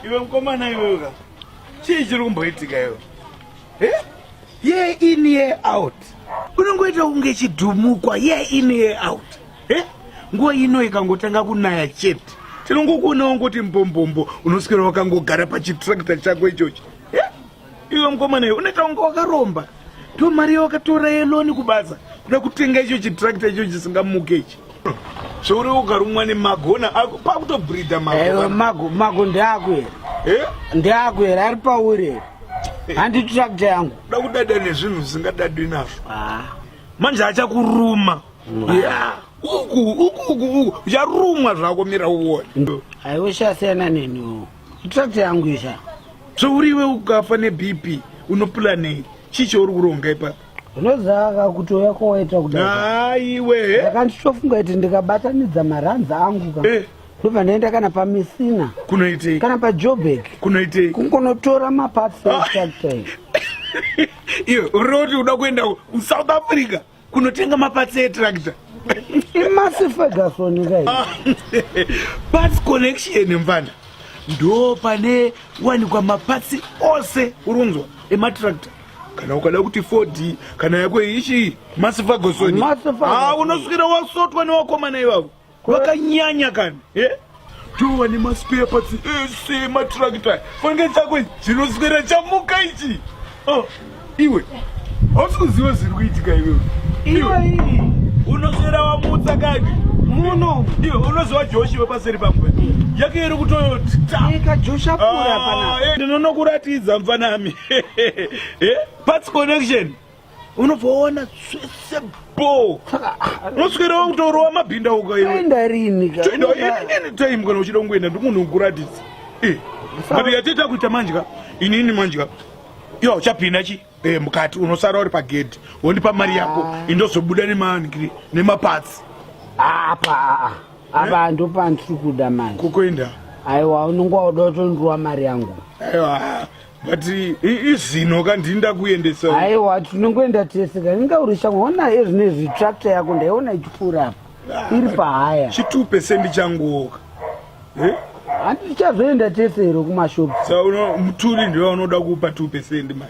iwe mukomana iweka chii chiri kumboitika iwe ye in ye out unongoita kunge chidhumukwa ye in ye out e nguva ino ikangotanga kunaya chete tinongokuonawo ngoti mbombombo unoswera wakangogara pachitractor chako ichochi Iwe mkomana iwe unoita kunge wakaromba. Ndiyo mari yawakatora yeloni kubasa kuda kutenga icho chitrakta icho chisingamuke ichi. Zvouri ukarumwa nemagona ako pakutobhridha mago. Ewe mago mago ndeako here? Eh? Ndeako here ari pauri here? Eh. Handi trakta yangu. Kuda kudada nezvinhu zvisingadadwi nazvo. Ah. Manje achakuruma. Ah. Yeah. Uku uku uku uku ucharumwa zvako mira uone. Aiwe shasiyana neni. Tractor yangu isha. So uriwe ukafa ne BP unoplanei? Chicho uri kuronga ipapo. Unozaka kutoya kowaita kudai. Haiwe. Eh? Ndakanditofunga kuti ndikabatanidza maranza angu ka. Eh. Ndobva ndaenda kana pamisina. Kunoitei? Kana pa Joburg. Kunoitei? Kungonotora maparts ah. e tractor. Iyo, uroti uda kuenda ku South Africa. kunotenga mapatsi etractor imasi ferguson kai ah, parts connection mfana ndo pane wanikwa mapatsi ose urunzwa ematractor kana ukada kuti ford kana yako ichi masi ferguson ah, unosvikira wasotwa newakomana ivavo Kwakanyanya kani. Eh? Tuwa ni maspare parts ese matractor. Fange dzako dzinoswera chamuka ichi. Oh, iwe. Hausi kuziva zviri kuitika iwe. Iwe unoswera wamutsa kani. Muno. Iwe unoziva Joshi wepaseri pamwe. Yake iri kutoyoti. Ika Joshi apura ah, pana. Eh, Ndinonokuratidza mfanami. Eh? Parts connection. unobvaona zvese bo unoswera wakutorowa mabhinda ukaenda rini time kana uchida kungoenda ndimunhu ukuratidza eh, but yateta kuita manjika inini manjika yo chapinda chi eh, mukati unosara uri pagedhi wondipa mari yako ah. indozobuda nemankiri nemapatsi apa ah, ah, apa ndopandichikuda manje kukuenda aiwa unonge wauda utondiwa mari yangu aiwa but izvino ka ndini ndakuendesa aiwa tinongoenda tese ka inga uri shamwa ona ezvine zvitractor yako ndaiona ichipfuura apa ah, iri pahaya chitupe sendi changuoka eh? handi tichazoenda tese iro kumashopu sa muturi ndiva unoda kupa two percent mai